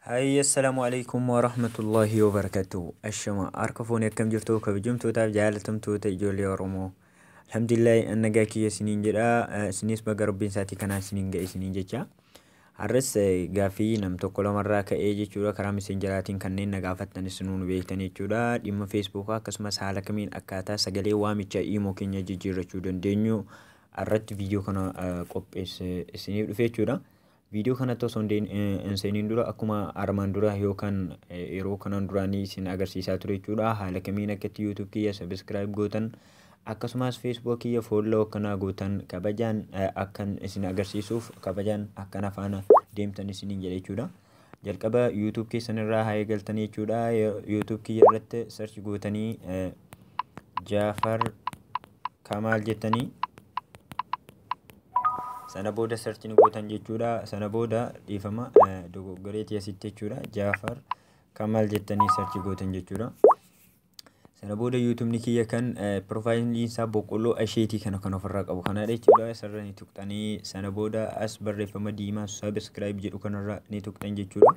Hayya assalamu alaikum wa rahmatullahi wa barakatuh. Ashama harka foonii akkam jirtu kabajamtootaaf jaalatamtoota ijoollee Oromoo. Alhamdulillahi an nagaa kiyya isiniin jedha. Eh, Isinis baga rabbiin isaatii kanaan isiniin ga'e isiniin jecha. Har'as eh, gaaffii nam tokko lamarraa ka'ee jechuudha karaa messenjeraatiin kanneen na gaafattan isinuu nu beektan jechuudha. Dhimma feesbuukaa akkasumas haala kamiin akkaataa sagalee waamicha iimoo keenya jijjiirrachuu dandeenyu irratti viidiyoo kana qopheesse isiniif dhufe jechuudha. Viidiyoo kanatti osoo hin seeniin dura akkuma armaan dura yookaan yeroo kanaan duraanii isin agarsiisaa ture jechuudha. Haala kamiin akka itti YouTube kiyya subscribe gootan akkasumas Facebook kiyya follow akkanaa gootan kabajaan akkan isin agarsiisuuf kabajaan akkana faana deemtan isiniin jedha jechuudha. Jalqaba YouTube keessan irraa haa eegaltanii jechuudha. YouTube kiyya irratti search gootanii Jaafar Kamaal jettanii sana booda search ni gootan jechuudha. Sana booda dhiifama dogoggoreetii asitti jechuudha. Jaafar Kamaal jettanii search gootan jechuudha. Sana booda yuutumni kiyya kan piroofaayiliin isaa boqqolloo asheetii kana kan ofirraa qabu kanaadha jechuudha. Asirra ni tuqxanii sana booda as barreeffama diimaa sabiskiraayib jedhu kanarra ni tuqxan jechuudha.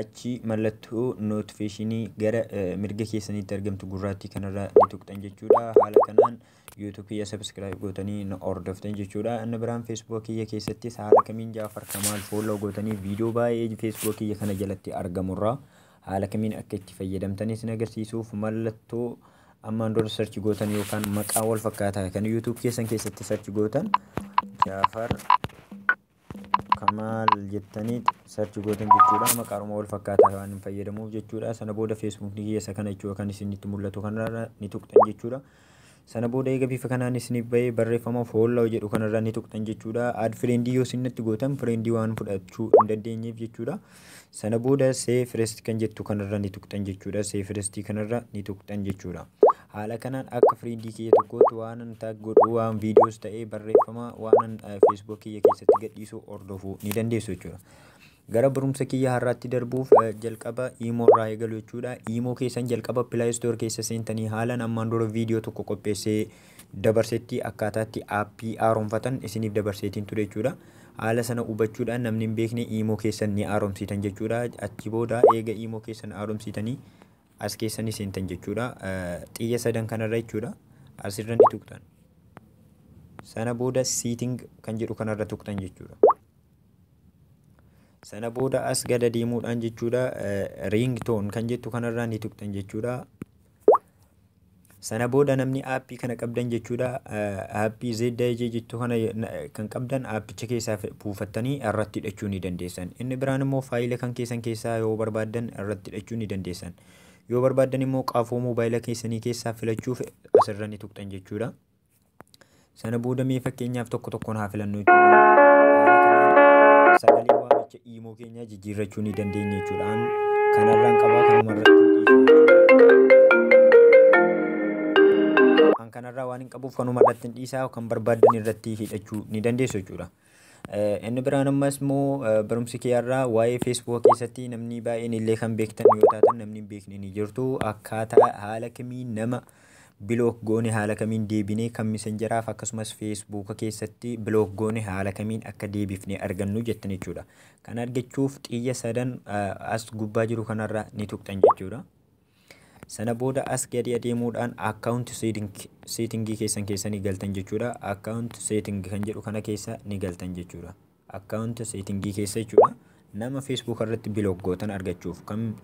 Achi mallattoo nootifeeshinii gara mirga keessaniitti argamtu gurraattii kanarra ni tuqxan jechuudha. Haala kanaan yuutuub kiyya sabiskiraayib gootanii na hordoftan jechuudha. Inni biraan feesbuuk kiyya keessattis haala kamiin jaafar kamaal fooloo gootanii viidiyoo baay'ee feesbuuk kiyya kana jalatti argamurraa Haala kamiin akka itti fayyadamtan isin agarsiisuuf mallattoo ammaan dura search gootan yookaan maqaa wal fakkaataa kan YouTube keessan keessatti search gootan Jaafar Kamaal jettanii search gootan jechuudha maqaaruma wal fakkaataa waan hin fayyadamuuf jechuudha sana booda Facebook ni keessa kana jechuudha kan isinitti mul'atu kanarra ni tuqxan jechuudha Sana booda eega bifa kanaan isiniif ba'ee barreeffama follow jedhu kanarra ni tuqxan jechuudha. Add friend yoo isin natti gootan friend waan fudhachuu hin dandeenyeef jechuudha. Sana booda save first kan jettu kanarra ni tuqxan jechuudha. Save first kanarra ni tuqxan jechuudha. Haala kanaan akka friend kiyya tokkootti waanan tag godhu waan videos ta'ee barreeffama waanan Facebook kiyya keessatti gadhiisu hordofuu ni dandeessu jechuudha. Gara barumsa kiyya har'aatti darbuuf jalqaba Imo irraa eegalu jechuudha. Imo keessan jalqaba Play Store keessa seentanii haalan ammaan dura viidiyoo tokko qopheessee dabarsetti akkaataatti aappii haaromfatan isiniif dabarseetiin ture jechuudha. Haala sana hubachuudhaan namni hin beekne Imo keessan ni haaromsiitan jechuudha. Achi booda eega Imo keessan haaromsiitanii as keessa ni seentan jechuudha. Xiyya sadan kanarra jechuudha. Asirra ni tuqxan. Sana booda seating kan jedhu kanarra tuqxan jechuudha. sana booda as gada deemuudhaan jechuudha ring tone kan jettu kanarraa ni tuqxan jechuudha sana booda namni aappii kana qabdan jechuudha aappii ZIJ jettu kana kan qabdan aappicha keessaa buufattanii irratti hidhachuu ni dandeessan inni biraan immoo faayila kan keessan keessaa yoo barbaaddan irratti hidhachuu ni dandeessan yoo barbaaddan immoo qaafoo moobaayila keessanii keessaa filachuuf asirra ni tuqxan jechuudha. Sana booda mee fakkeenyaaf tokko tokkoon haa filannu jechuudha. Sagalee waamicha iimoo keenyaa jijjiirrachuu ni dandeenya jechuudha. Kanarraan qabaa kanuma irratti Kan kanarraa waan hin qabuuf kanuma irratti hin dhiisaa kan barbaaddan irratti hidhachuu ni dandeessu jechuudha. Inni biraan ammas immoo barumsi kee irraa waa'ee feesbuuka keessatti namni baay'een illee kan beektan yoo taatan namni hin beekne ni jirtu akkaataa haala kamiin nama bilook goone haala kamiin deebinee kan misenjeraaf akkasumas feesbuuka keessatti bilook goone haala kamiin akka deebifne argannu jettan jechuudha. Kan argachuuf xiyya sadan as gubbaa jiru kanarra ni tuqxan jechuudha. Sana booda as gadi adeemuudhaan account setting setting keessan keessa ni galtan jechuudha. Account setting kan jedhu kana keessa ni galtan jechuudha. Account setting keessa jechuudha. Nama Facebook irratti block gootan argachuuf kan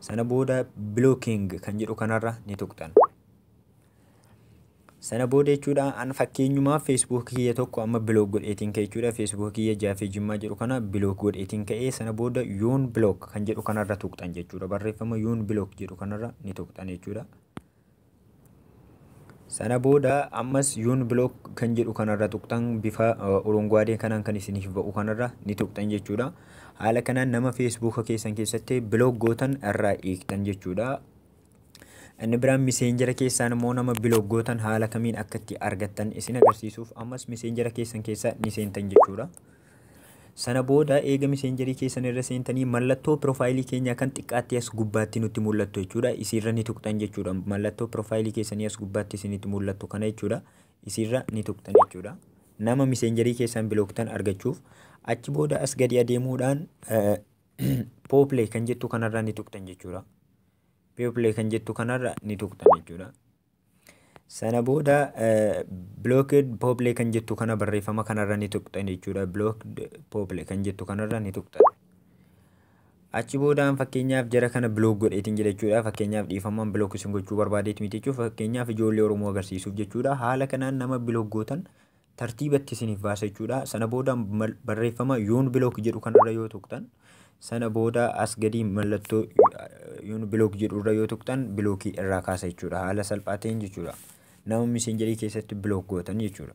sana booda blocking kan jedhu kanarra ni tuqxan. Sana booda jechuudha an fakkeenyumaa Facebook kiyya tokko amma bilook godheetiin ka'e jechuudha. Facebook kiyya jaafee jimmaa jedhu kana bilook godheetiin ka'e sana booda yoon bilook kan jedhu kanarra tuqxan jechuudha. Barreeffama yoon bilook jedhu kanarra ni tuqxan jechuudha. Sana booda ammas yoon bilook kan jedhu kanarra tuqxan bifa urunguwaadee kanaan kan isiniif ba'u kanarra ni tuqxan jechuudha. Haala kanaan nama Facebook keessan keessatti bilook gootan irraa eegdan jechuudha. Inni biraan miseenjera keessaan immoo nama biloog gootan haala kamiin akka itti argattan isin agarsiisuuf ammas miseenjera keessan keessa ni seentan jechuudha. Sana booda eega miseenjerii keessan irra seentanii mallattoo piroofaayilii keenyaa kan xiqqaatti as gubbaatti nutti mul'attu jechuudha. Isiirra ni tuqxan jechuudha. Mallattoo piroofaayilii keessanii as gubbaatti isinitti mul'attu kana jechuudha. Isiirra ni tuqxan jechuudha. Nama miseenjerii keessan bilooktan argachuuf achi booda as gadi adeemuudhaan pooplee kan jettu kanarra ni tuqxan jechuudha. view play kan jettu kanarra ni tuqxan jechuudha. Sana booda blocked pople kan jettu kana barreeffama kanarra ni tuqxan jechuudha. Blocked pople kan jettu kanarra ni tuqxan. Achi boodaan fakkeenyaaf jara kana block godheetiin jira jechuudha. Fakkeenyaaf dhiifamaan block isin gochuu barbaadeet miti jechuudha. Fakkeenyaaf ijoollee Oromoo agarsiisuuf jechuudha. Haala kanaan nama block gootan tartiiba itti isiniif baasa jechuudha. Sana booda barreeffama yoon bilook jedhu kanarra yoo tuqxan sana booda as gadii mallattoo yoon bilook jedhu irra yoo tuqxan bilookii irraa kaasa jechuudha. Haala salphaa ta'een jechuudha. Nama misenjarii keessatti bilook gootan jechuudha.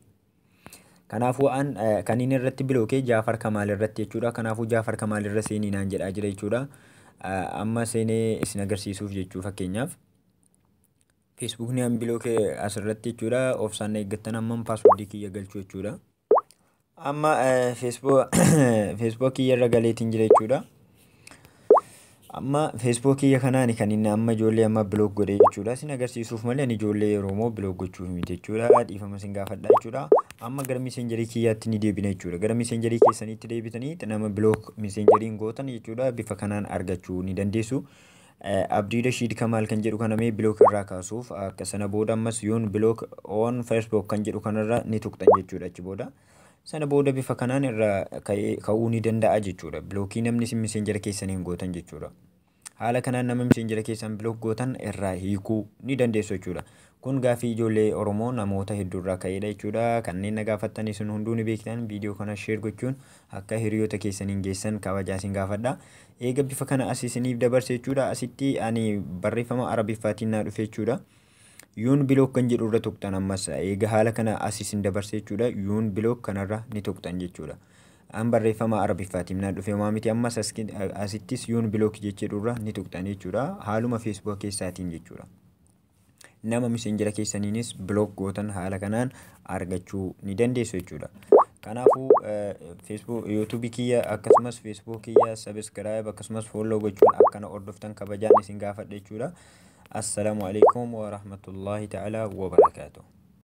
Kanaafuu an kan inni irratti bilookee Jaafar Kamaal irratti jechuudha. Kanaafuu Jaafar Kamaal irra seenii naan jedhaa jira jechuudha. Amma seenee isin agarsiisuuf jechuu fakkeenyaaf. Facebook ni unblock asirratti jechuudha. Obsaan na eeggattan amman password kiyya galchuu jechuudha. Amma eh, Facebook Facebook kiyya irra galeetiin jira jechuudha. Amma Facebook kiyya kanaani kan inni amma ijoollee amma block godhe jechuudha. Sin agarsiisuuf malee ani ijoollee yeroo immoo block gochuuf miti jechuudha. Dhiifama sin gaafadha jechuudha. Amma gara messengerii kiyyaatti ni deebina jechuudha. Gara messengerii keessaniitti deebitanii nama block messengeriin gootan jechuudha. Bifa kanaan argachuu ni dandeessu. Abdirashid Kamal kan jedhu kana mee block irraa kaasuuf akka sana booda ammas yoon block on Facebook kan jedhu kanarra ni tuqxan jechuudha achi booda. Sana booda bifa kanaan irra ka'ee ka'uu ni danda'a jechuudha. Bilookii namni isin miseenjera keessaniin gootan jechuudha. Haala kanaan nama miseenjera keessan bilook gootan irraa hiikuu ni dandeessu jechuudha. Kun gaaffii ijoollee Oromoo namoota hedduurraa ka'eedha jechuudha. Kanneen na gaafattan isin hunduu ni beektan viidiyoo kana sheer gochuun akka hiriyoota keessaniin geessan kabajaa isin gaafadha. Eega bifa kana as isiniif dabarse jechuudha. Asitti ani barreeffama arabiffaatiin naa dhufe jechuudha. Yuun bilook kan jedhu irra tuqxan ammas eega haala kana as isin dabarse jechuudha. Yuun bilook kanarra ni tuqxan jechuudha. An barreeffama arabiffaatiin naa dhufe homaa miti ammas asittis yuun bilook jechee dhurra ni tuqxan jechuudha. Haaluma feesbuka keessaatiin jechuudha. nama messenger keessaniinis block gootan haala kanaan argachuu ni dandeessu jechuudha. Kanaafuu Facebook YouTube kiyya akkasumas Facebook kiyya subscribe akkasumas follow gochuun akkana hordoftan kabajaan isin gaafadha jechuudha. Assalamu alaikum wa rahmatullahi ta'ala wa barakatuh.